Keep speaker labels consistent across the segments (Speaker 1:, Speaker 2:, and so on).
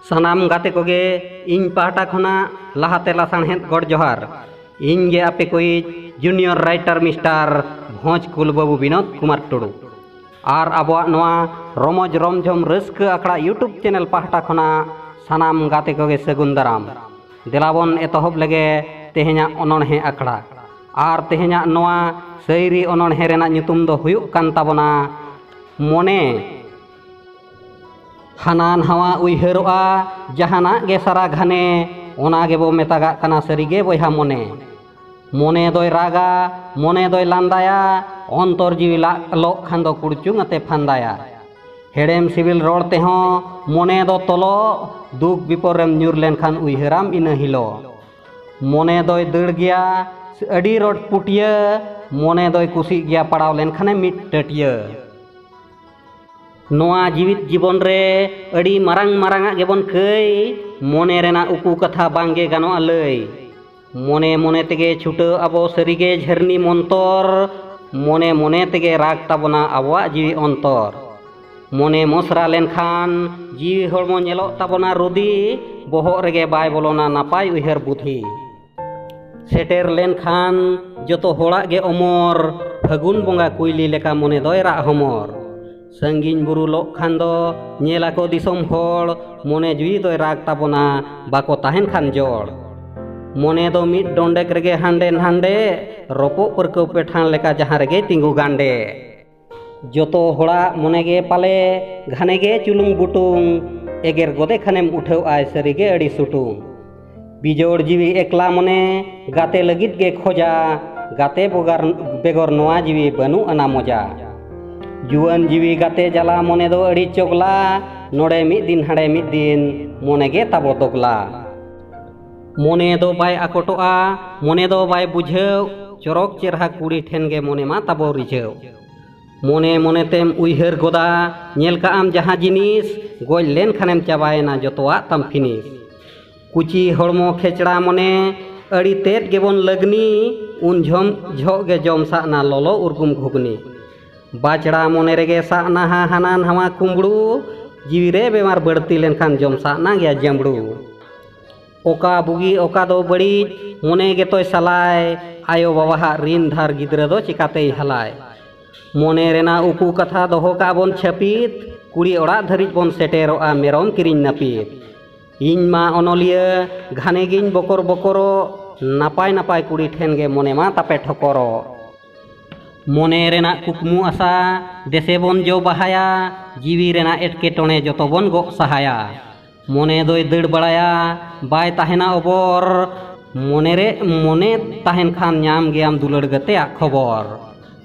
Speaker 1: ᱥᱟᱱᱟᱢ ᱜᱟᱛᱮ ᱠᱚᱜᱮ ᱤᱧ ᱯᱟᱦᱴᱟ ᱠᱷᱚᱱᱟᱜ ᱞᱟᱦᱟᱛᱮ ᱞᱟᱥᱟᱬᱦᱮᱫ ᱜᱚᱰ ᱡᱚᱦᱟᱨ ᱤᱧ ᱜᱮ ᱟᱯᱮ ᱠᱚᱭᱤᱡ ᱡᱩᱱᱤᱭᱚᱨ ᱨᱟᱭᱴᱟᱨ ᱢᱤᱥᱴᱟᱨ ᱵᱷᱚᱸᱡᱽ ᱠᱩᱞ ᱵᱟᱹᱵᱩ ᱵᱤᱱᱳᱫ ᱠᱩᱢᱟᱨ ᱴᱩᱰᱩ ᱟᱨ ᱟᱵᱚᱣᱟᱜ ᱱᱚᱣᱟ ᱨᱚᱢᱚᱡᱽ ᱨᱚᱢᱡᱷᱚᱢ ᱨᱟᱹᱥᱠᱟᱹ ᱟᱠᱷᱲᱟ ᱤᱭᱩᱴᱩᱵᱽ ᱪᱮᱱᱮᱞ ᱯᱟᱦᱴᱟ ᱠᱷᱚᱱᱟᱜ ᱥᱟᱱᱟᱢ ᱜᱟᱛᱮ ᱠᱚᱜᱮ ᱥᱟᱹᱜᱩᱱ ᱫᱟᱨᱟᱢ ᱫᱮᱞᱟᱵᱚᱱ ᱮᱛᱚᱦᱚᱵ ᱞᱮᱜᱮ ᱛᱮᱦᱮᱧᱟᱜ ᱚᱱᱚᱬᱦᱮ ᱟᱠᱷᱲᱟ ᱟᱨ ᱛᱮᱦᱮᱧᱟᱜ ᱱᱚᱣᱟ ᱥᱟᱹᱭᱨᱤ ᱚᱱᱚᱬᱦᱮ ᱨᱮᱱᱟᱜ ᱧᱩᱛᱩᱢ ᱫᱚ ᱦᱩᱭᱩᱜ ᱠᱟᱱ ᱛᱟᱵᱚᱱᱟ ᱢᱚᱱᱮ ᱦᱟᱱᱟ ᱱᱟᱣᱟ ᱩᱭᱦᱟᱹᱨᱚᱜᱼᱟ ᱡᱟᱦᱟᱱᱟᱜ ᱜᱮ ᱥᱟᱨᱟ ᱜᱷᱟᱱᱮ ᱚᱱᱟ ᱜᱮᱵᱚ ᱢᱮᱛᱟᱜᱟᱜ ᱠᱟᱱᱟ ᱥᱟᱹᱨᱤᱜᱮ ᱵᱚᱭᱦᱟ ᱢᱚᱱᱮ ᱢᱚᱱᱮ ᱫᱚᱭ ᱨᱟᱜᱟ ᱢᱚᱱᱮ ᱫᱚᱭ ᱞᱟᱸᱫᱟᱭᱟ ᱚᱱᱛᱚᱨ ᱡᱤᱣᱤ ᱞᱟᱜ ᱞᱚᱜ ᱠᱷᱟᱱ ᱫᱚ ᱠᱩᱲᱪᱩᱝ ᱟᱛᱮ ᱯᱷᱟᱸᱫᱟᱭᱟ ᱦᱮᱲᱮᱢ ᱥᱤᱵᱤᱞ ᱨᱚᱲ ᱛᱮᱦᱚᱸ ᱢᱚᱱᱮ ᱫᱚ ᱛᱚᱞᱚᱜ ᱫᱩᱠ ᱵᱤᱯᱚᱫ ᱨᱮᱢ ᱧᱩᱨ ᱞᱮᱱᱠᱷᱟᱱ ᱩᱭᱦᱟᱹᱨᱟᱢ ᱤᱱᱟᱹ ᱦᱤᱞᱳᱜ ᱢᱚᱱᱮ ᱫᱚᱭ ᱫᱟᱹᱲ ᱜᱮᱭᱟ ᱟᱹᱰᱤ ᱨᱚᱰ ᱯᱩᱴᱭᱟᱹ ᱢᱚᱱᱮ ᱫᱚᱭ ᱠᱩᱥᱤᱜ ᱜᱮᱭᱟ ᱯᱟᱲᱟᱣ ᱞᱮᱱᱠᱷᱟᱱᱮ ᱢᱤᱫ ᱴᱟᱹᱴᱭᱟᱹ ᱱᱚᱣᱟ ᱡᱤᱣᱤᱫ ᱡᱤᱵᱚᱱ ᱨᱮ ᱟᱹᱰᱤ ᱢᱟᱨᱟᱝ ᱢᱟᱨᱟᱝᱟᱜ ᱜᱮᱵᱚᱱ ᱠᱟᱹᱭ ᱢᱚᱱᱮ ᱨᱮᱱᱟᱜ ᱩᱠᱩ ᱠᱟᱛᱷᱟ ᱵᱟᱝᱜᱮ ᱜᱟᱱᱚᱜᱼᱟ ᱞᱟᱹᱭ ᱢᱚᱱᱮ ᱢᱚᱱᱮ ᱛᱮᱜᱮ ᱪᱷᱩᱴᱟᱹᱣ ᱟᱵᱚ ᱥᱟᱹᱨᱤᱜᱮ ᱡᱷᱟᱹᱨᱱᱤ ᱢᱚᱱᱛᱚᱨ ᱢᱚᱱᱮ ᱢᱚᱱᱮ ᱛᱮᱜᱮ ᱨᱟᱜᱽ ᱛᱟᱵᱚᱱᱟ ᱟᱵᱚᱣᱟᱜ ᱡᱤᱣᱤ ᱚᱱᱛᱚᱨ ᱢᱚᱱᱮ ᱢᱚᱥᱨᱟ ᱞᱮᱱᱠᱷᱟᱱ ᱡᱤᱣᱤ ᱦᱚᱲᱢᱚ ᱧᱮᱞᱚᱜ ᱛᱟᱵᱚᱱᱟ ᱨᱩᱫᱤ ᱵᱚᱦᱚᱜ ᱨᱮᱜᱮ ᱵᱟᱭ ᱵᱚᱞᱚᱱᱟ ᱱᱟᱯᱟᱭ ᱩᱭᱦᱟᱹᱨ ᱵᱩᱫᱷᱤ ᱥᱮᱴᱮᱨ ᱞᱮᱱᱠᱷᱟᱱ ᱡᱚᱛᱚ ᱦᱚᱲᱟᱜ ᱜᱮ ᱚᱢᱚᱨ ᱯᱷᱟᱹᱜᱩᱱ ᱵᱚᱸᱜᱟ ᱠᱩᱭᱞᱤ ᱞᱮᱠᱟ ᱢᱚᱱᱮ ᱫᱚᱭ ᱨᱟᱜ ᱦᱚᱢᱚᱨ ᱥᱟᱺᱜᱤᱧ ᱵᱩᱨᱩ ᱞᱚᱜ ᱠᱷᱟᱱ ᱫᱚ ᱧᱮᱞ ᱟᱠᱚ ᱫᱤᱥᱚᱢ ᱦᱚᱲ ᱢᱚᱱᱮ ᱡᱩᱭᱤ ᱫᱚᱭ ᱨᱟᱜᱽ ᱛᱟᱵᱚᱱᱟ ᱵᱟᱠᱚ ᱛᱟᱦᱮᱱ ᱠᱷᱟᱱ ᱡᱚᱲ ᱢᱚᱱᱮ ᱫᱚ ᱢᱤᱫ ᱰᱚᱸᱰᱮᱠ ᱨᱮᱜᱮ ᱦᱟᱸᱰᱮ ᱱᱟᱸᱰᱮ ᱨᱚᱯᱚᱜ ᱯᱟᱹᱨᱠᱟᱹᱣ ᱯᱮᱴᱷᱟᱱ ᱞᱮᱠᱟ ᱡᱟᱦᱟᱸ ᱨᱮᱜᱮ ᱛᱤᱸᱜᱩ ᱜᱟᱸᱰᱮ ᱡᱚᱛᱚ ᱦᱚᱲᱟᱜ ᱢᱚᱱᱮ ᱜᱮ ᱯᱟᱞᱮ ᱜᱷᱟᱱᱮ ᱜᱮ ᱪᱩᱞᱩᱝ ᱵᱩᱴᱩᱝ ᱮᱜᱮᱨ ᱜᱚᱫᱮ ᱠᱷᱟᱱᱮᱢ ᱩᱴᱷᱟᱹᱣ ᱟᱭ ᱥᱟᱹᱨᱤ ᱜᱮ ᱟᱹᱰᱤ ᱥᱩᱴᱩᱝ ᱵᱤᱡᱚᱲ ᱡᱤᱣᱤ ᱮᱠᱞᱟ ᱢᱚᱱᱮ ᱜᱟᱛᱮ ᱞᱟᱹᱜᱤᱫ ᱜᱮ ᱠᱷᱚᱡᱟ ᱜᱟᱛᱮ ᱵᱚᱜᱟᱨ ᱵᱮᱜᱚᱨ ᱱᱚᱣᱟ ᱡᱤᱣᱤ ᱵᱟᱹᱱᱩᱜ ᱟᱱᱟ ᱢᱚᱡᱟ ᱡᱩᱣᱟᱹᱱ ᱡᱤᱣᱤ ᱜᱟᱛᱮ ᱡᱟᱞᱟ ᱢᱚᱱᱮ ᱫᱚ ᱟᱹᱰᱤ ᱪᱚᱜᱽᱞᱟ ᱱᱚᱰᱮ ᱢᱤᱫ ᱫᱤᱱ ᱦᱟᱸᱰᱮ ᱢᱤᱫ ᱫᱤᱱ ᱢᱚᱱᱮ ᱜᱮ ᱛᱟᱵᱚ ᱫᱚᱜᱽᱞᱟ ᱢᱚᱱᱮ ᱫᱚ ᱵᱟᱭ ᱟᱠᱚᱴᱚᱜᱼᱟ ᱢᱚᱱᱮ ᱫᱚ ᱵᱟᱭ ᱵᱩᱡᱷᱟᱹᱣ ᱪᱚᱨᱚᱠ ᱪᱮᱨᱦᱟ ᱠᱩᱲᱤ ᱴᱷᱮᱱ ᱜᱮ ᱢᱚᱱᱮ ᱢᱟ ᱛᱟᱵᱚ ᱨᱤᱡᱷᱟᱹᱣ ᱢᱚᱱᱮ ᱢᱚᱱᱮ ᱛᱮᱢ ᱩᱭᱦᱟᱹᱨ ᱜᱚᱫᱟ ᱧᱮᱞ ᱠᱟᱜ ᱟᱢ ᱡᱟᱦᱟᱸ ᱡᱤᱱᱤᱥ ᱜᱚᱡ ᱞᱮᱱ ᱠᱷᱟᱱᱮᱢ ᱪᱟᱵᱟᱭᱮᱱᱟ ᱡᱚᱛᱚᱣᱟᱜ ᱛᱟᱢ ᱯᱷᱤᱱᱤᱥ ᱠᱩᱪᱤ ᱦᱚᱲᱢᱚ ᱠᱷᱮᱪᱲᱟ ᱢᱚᱱᱮ ᱟᱹᱰᱤ ᱛᱮᱫ ᱜᱮᱵᱚᱱ ᱞᱟᱹᱜᱽᱱᱤ ᱩᱱ ᱡᱷᱚᱢ ᱡᱷᱚᱜ ᱜᱮ ᱡᱚᱢ ᱥᱟᱜ ᱱᱟ ᱞᱚᱞᱚ ᱩᱨᱜᱩᱢ ᱜᱷᱩᱜᱽᱱᱤ ᱵᱟᱪᱲᱟ ᱢᱚᱱᱮ ᱨᱮᱜᱮ ᱥᱟᱜ ᱱᱟᱦᱟ ᱦᱟᱱᱟ ᱱᱟᱣᱟ ᱠᱩᱢᱵᱽᱲᱩ ᱡᱤᱣᱤ ᱨᱮ ᱵᱮᱢᱟᱨ ᱵᱟᱹᱲᱛᱤ ᱞᱮᱱᱠᱷᱟᱱ ᱡᱚᱢ ᱥᱟᱜ ᱱᱟ ᱜᱮᱭᱟ ᱡᱟᱹᱢᱵᱽᱲᱩ ᱚᱠᱟ ᱵᱩᱜᱤ ᱚᱠᱟ ᱫᱚ ᱵᱟᱹᱲᱤᱡ ᱢᱚᱱᱮ ᱜᱮᱛᱚᱭ ᱥᱟᱞᱟᱭ ᱟᱭᱳ ᱵᱟᱵᱟᱦᱟᱜ ᱨᱤᱱ ᱫᱷᱟᱨ ᱜᱤᱫᱽᱨᱟᱹ ᱫᱚ ᱪᱤᱠᱟᱛᱮᱭ ᱦᱟᱞᱟᱭ ᱢᱚᱱᱮ ᱨᱮᱱᱟᱜ ᱩᱠᱩ ᱠᱟᱛᱷᱟ ᱫᱚᱦᱚ ᱠᱟᱜ ᱵᱚᱱ ᱪᱷᱟᱹᱯᱤᱛ ᱠᱩᱲᱤ ᱚᱲᱟᱜ ᱫᱷᱟᱹᱨᱤᱡ ᱵᱚᱱ ᱥᱮᱴᱮᱨᱚᱜᱼᱟ ᱢᱮᱨᱚᱢ ᱠᱤᱨᱤᱧ ᱱᱟᱹᱯᱤᱛ ᱤᱧ ᱢᱟ ᱚᱱᱚᱞᱤᱭᱟᱹ ᱜᱷᱟᱱᱮ ᱜᱤᱧ ᱵᱚᱠᱚᱨ ᱵᱚᱠᱚᱨᱚᱜ ᱱᱟᱯᱟᱭ ᱱᱟᱯᱟᱭ ᱠᱩᱲᱤ ᱴᱷᱮᱱ ᱜᱮ ᱢᱚᱱᱮ ᱢᱟ ᱛᱟᱯᱮ ᱴᱷᱚᱠᱚᱨᱚᱜ ᱢᱚᱱᱮ ᱨᱮᱱᱟᱜ ᱠᱩᱠᱢᱩ ᱟᱥᱟ ᱫᱮᱥᱮ ᱵᱚᱱ ᱡᱚ ᱵᱟᱦᱟᱭᱟ ᱡᱤᱣᱤ ᱨᱮᱱᱟᱜ ᱮᱴᱠᱮᱴᱚᱬᱮ ᱡᱚᱛᱚ ᱵᱚᱱ ᱜᱚᱜ ᱥᱟᱦᱟᱭᱟ ᱢᱚᱱᱮ ᱫᱚᱭ ᱫᱟᱹᱲ ᱵᱟᱲᱟᱭᱟ ᱵᱟᱭ ᱛᱟᱦᱮᱱᱟ ᱚᱵᱚᱨ ᱢᱚᱱᱮ ᱨᱮ ᱢᱚᱱᱮ ᱛᱟᱦᱮᱱ ᱠᱷᱟᱱ ᱧᱟᱢ ᱜᱮᱭᱟᱢ ᱫᱩᱞᱟᱹᱲ ᱜᱟᱛᱮᱭᱟᱜ ᱠᱷᱚᱵᱚᱨ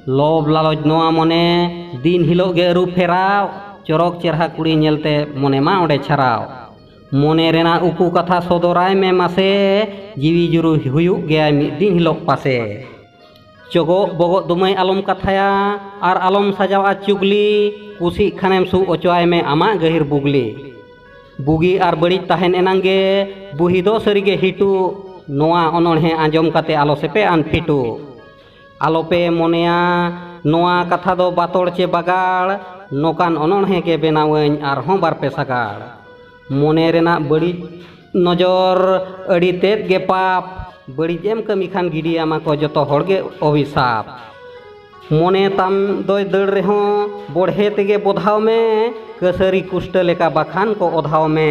Speaker 1: ᱞᱚᱵᱽ ᱞᱟᱞᱚᱪ ᱱᱚᱣᱟ ᱢᱚᱱᱮ ᱫᱤᱱ ᱦᱤᱞᱳᱜ ᱜᱮ ᱟᱹᱨᱩ ᱯᱷᱮᱨᱟᱣ ᱪᱚᱨᱚᱠ ᱪᱮᱨᱦᱟ ᱠᱩᱲᱤ ᱧᱮᱞᱛᱮ ᱢᱚᱱᱮ ᱢᱟ ᱚᱸᱰᱮ ᱪᱷᱟᱨᱟᱣ ᱢᱚᱱᱮ ᱨᱮᱱᱟᱜ ᱩᱠᱩ ᱠᱟᱛᱷᱟ ᱥᱚᱫᱚᱨᱟᱭ ᱢᱮ ᱢᱟᱥᱮ ᱡᱤᱣᱤ ᱡᱩᱨᱤ ᱦᱩᱭᱩᱜ ᱜᱮᱭᱟᱭ ᱢᱤᱫ ᱫᱤᱱ ᱦᱤᱞᱳᱜ ᱯᱟᱥᱮ ᱪᱚᱜᱚᱜ ᱵᱚᱜᱚᱜ ᱫᱚ ᱢᱟᱹᱭ ᱟᱞᱚᱢ ᱠᱟᱛᱷᱟᱭᱟ ᱟᱨ ᱟᱞᱚᱢ ᱥᱟᱡᱟᱣᱟ ᱪᱩᱜᱽᱞᱤ ᱠᱩᱥᱤᱜ ᱠᱷᱟᱱᱮᱢ ᱥᱩᱜ ᱚᱪᱚᱣᱟᱭ ᱢᱮ ᱟᱢᱟᱜ ᱜᱟᱹᱦᱤᱨ ᱵᱩᱜᱽᱞᱤ ᱵᱩᱜᱤ ᱟᱨ ᱵᱟᱹᱲᱤᱡ ᱛᱟᱦᱮᱱ ᱮᱱᱟᱝ ᱜᱮ ᱵᱩᱦᱤ ᱫᱚ ᱥᱟᱹᱨᱤ ᱜᱮ ᱦᱤᱴᱩ ᱱᱚᱣᱟ ᱚᱱᱚᱬᱦᱮ ᱟᱸᱡᱚᱢ ᱠᱟᱛᱮ ᱟᱞᱚ ᱥᱮᱯᱮ ᱟᱱ ᱯᱷᱤᱴᱩ ᱟᱞᱚ ᱯᱮ ᱢᱚᱱᱮᱭᱟ ᱱᱚᱣᱟ ᱠᱟᱛᱷᱟ ᱫᱚ ᱵᱟᱛᱚᱲ ᱪᱮ ᱵᱟᱜᱟᱲ ᱱᱚᱠᱟᱱ ᱚᱱᱚᱬᱦᱮ ᱜᱮ ᱵᱮᱱᱟᱣᱟᱹᱧ ᱟᱨ ᱦᱚᱸ ᱵᱟᱨ ᱯᱮ ᱥᱟᱜᱟᱲ ᱢᱚᱱᱮ ᱨᱮᱱᱟᱜ ᱵᱟᱹᱲᱤᱡ ᱱᱚᱡᱚᱨ ᱟᱹᱰᱤ ᱛᱮᱫ ᱜᱮ ᱯᱟᱯ ᱵᱟᱹᱲᱤᱡ ᱮᱢ ᱠᱟᱹᱢᱤ ᱠᱷᱟᱱ ᱜᱤᱰᱤᱭᱟᱢᱟ ᱠᱚ ᱡᱚᱛᱚ ᱦᱚᱲ ᱜᱮ ᱚᱵᱷᱤᱥᱟᱯ ᱢᱚᱱᱮ ᱛᱟᱢ ᱫᱚᱭ ᱫᱟᱹᱲ ᱨᱮᱦᱚᱸ ᱵᱚᱲᱦᱮ ᱛᱮᱜᱮ ᱵᱚᱫᱷᱟᱣ ᱢᱮ ᱠᱟᱹᱥᱟᱹᱨᱤ ᱠᱩᱥᱴᱟᱹ ᱞᱮᱠᱟ ᱵᱟᱠᱷᱟᱱ ᱠᱚ ᱚᱫᱷᱟᱣ ᱢᱮ